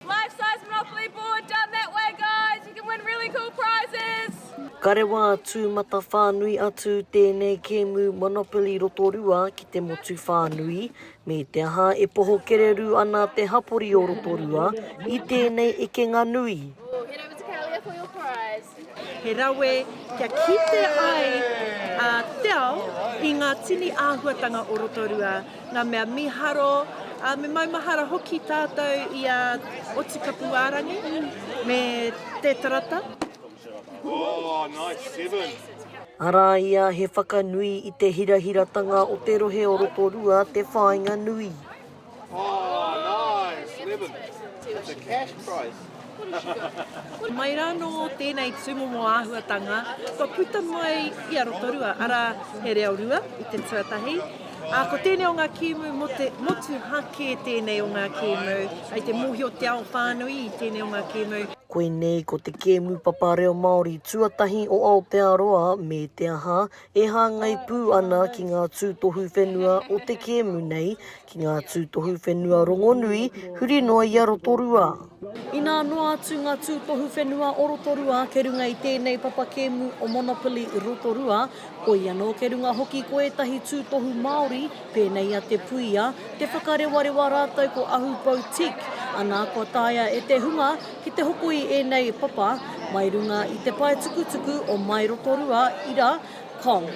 Life size monopoly board down that way guys, you can win really cool prizes! Ka rewa tū mata whānui atu tēnei kēmu Monopoly Rotorua ki te motu whānui, me te aha e poho kererū ana te hapori o Rotorua i tēnei ekenga nui. He rawe kia kite ai a Te Ao i ngā tini āhuatanga o Rotorua, ngā mea miharo, ā, me maumahara hoki tātou i a Otikapuārangi me Te Tarata. Arā ia he whakanui i te hirahiratanga o te rohe o Rotorua te whāinga nui. Mai rā nō tēnei tūmomo āhuatanga kua puta mai i a Rotorua, arā, he reo rua i te tuatahi, ā, ko tēnei o ngā kēmu mō te motu hākē tēnei o ngā kēmu, kei te mōhio te ao whānui i tēnei o ngā kēmu. Koinei ko te kēmu papa reo Māori tuatahi o Aotearoa, me te aha, E hāngai pū ana ki ngā tūtohu whenua o te kēmu nei, ki ngā tūtohu whenua rongonui, huri noa i a Rotorua. Inā noa atu ngā tūtohu whenua o Rotorua kei runga i tēnei papa kēmu o Monopoly Rotorua, koia nō kei runga hoki ko ētahi tūtohu Māori, Pēnei a Te Puia, te whakarewarewa rātou ko Ahu Boutique, anā kua taea e te hunga ki te hoko i ēnei papa mai runga i te paetukutuku o Mai Rotorua, ira, com.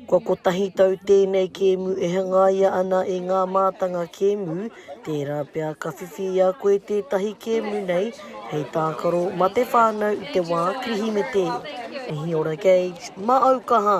Kua kotahi tau tēnei kēmu e hangaia ana e ngā mātanga kēmu Tērā pea ka whiwhi i a koe tētahi kēmu nei hei tākaro mā te whānau i te wā Kirihimete. Mihi ora Gage, mā au kaha!